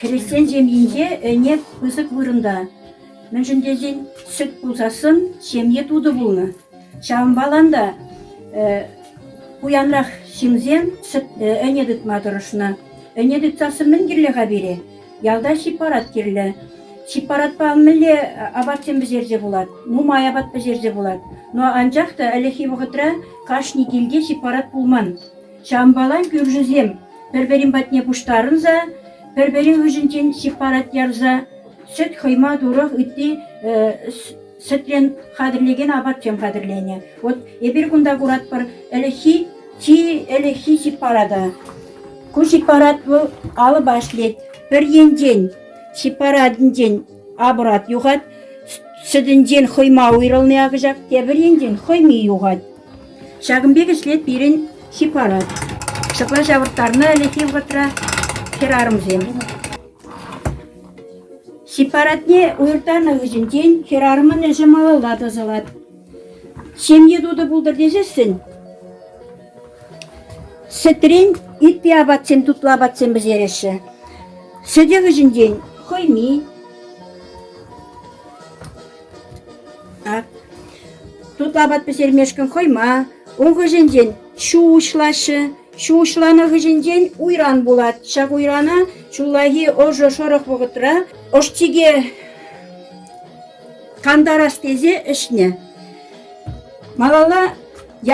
Христиан ҫемйинче ӗне пысӑк вырӑнта. Мӗншӗн тесен сӗт пулсассӑн ҫемье тутӑ пулнӑ. Ҫавӑнпа та пуянрах ҫынсем ӗне тытма тӑрӑшнӑ. Ӗне тытсассӑн мӗн кирлӗ-ха пире? Ялта сепарат кирлӗ. Сепаратпа мӗнле апатсем пӗҫерсе пулать? Нумай апат пӗҫерсе пулать. Но анчах та ӗлӗкхи вӑхӑтра кашни килте сепарат пулман. Чампалан кӳршӗсем пӗр-пӗрин патне пуҫтарӑнса, пӗр-пӗрин хыҫӗнчен сыппарат ярса сӗт хӑйма турах ытти сӗтрен хатӗрлекен апатсем хатӗрленӗ. Вот эпир кунта куратпӑр ӗлӗкхи чи ӗлӗкхи сыппарата. Ку сыппарат вӑл алӑпа ӗҫлет. Пӗр енчен сыппаратӗнчен апат юхать, сӗтӗнчен хӑйма уйрӑлни акӑҫак, тепӗр енчен хӑйми юхать. Ҫакӑн пек ӗҫлет пирӗн хип-парад. Ҫапла ҫавӑрттарнӑ ӗлӗкхи вӑхӑтра хӗрарӑмсем. Хип-парадне уйӑртанӑ хыҫӗнчен хӗрарӑмӑн ӗҫӗ малалла тӑсӑлать. Ҫемье тутӑ пултӑр тесессӗн сӗтрен ытти апатсем, тутлӑ апатсем пӗҫереҫҫӗ. Сӗтӗ хыҫӗнчен хӑйми, Тутлӑ апат пӗҫермешкӗн хӑйма, ун хыҫӗнчен ҫу уҫлаҫҫӗ. Ҫу уҫланӑ хыҫӗнчен уйран пулать. Ҫак уйрана ҫуллахи ӑшӑ шӑрӑх вӑхӑтра ӑш-чике кантарас тесе ӗҫнӗ. Малалла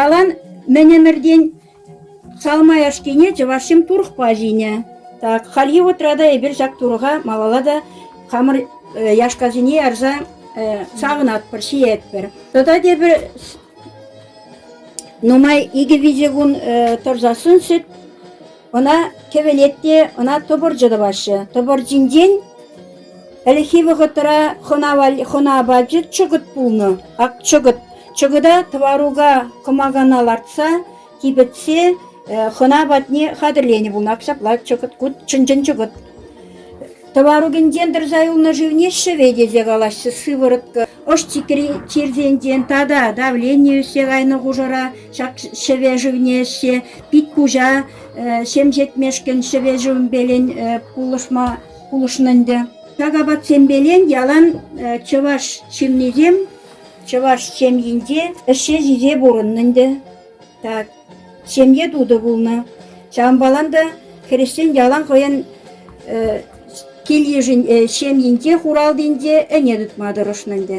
ялан мӗн ӗмӗртен Салмаяшкине чӑвашсем турӑхпа ҫинӗ. Так, хальхи вӑхӑтра та эпир ҫак турӑха малалла та хамӑр яшкасене ярса савӑнатпӑр, ҫиетпӗр. Тата тепӗр нумай икӗ-виҫӗ кун тӑрсассӑн сӗт ӑна кӗвӗлет те ӑна тӑпӑрчӑ тӑваҫҫӗ. Тӑпӑрчинчен Ӗлӗкхи вӑхӑтра хӑна апачӗ чӑкӑт пулнӑ. Ак чӑкӑт. Чӑкӑта тӑварука кӑмакана лартса, типӗтсе хӑна патне хатӗрленӗ пулнӑ. Ак ҫапла чӑкӑт, ку чӑн-чӑн чӑкӑт. Тӑварукинчен тӑрса юлнӑ шывне ҫӗве тесе калаҫҫӗ, сыворотка. Ӑш-чикри чирсенчен тата давление ӳссе кайнӑ хушӑра ҫак ҫӗве шывне ӗҫсе пит-куҫа ҫемҫетмешкӗн ҫӗве шывӗмпелен пулӑшма пулӑшнӑ ӗнтӗ. Ҫак апатсемпелен ялан чӑваш ҫыннисем чӑваш ҫемйинче ӗҫе ҫисе пурӑннӑ ӗнтӗ. Так, ҫемье тутӑ пулнӑ. Ҫавӑнпалан та хресчен ялан хӑйӗн кил-йышӗн ҫемйинче, хуралтинче ӗне тытма тӑрӑшнӑ ӗнтӗ.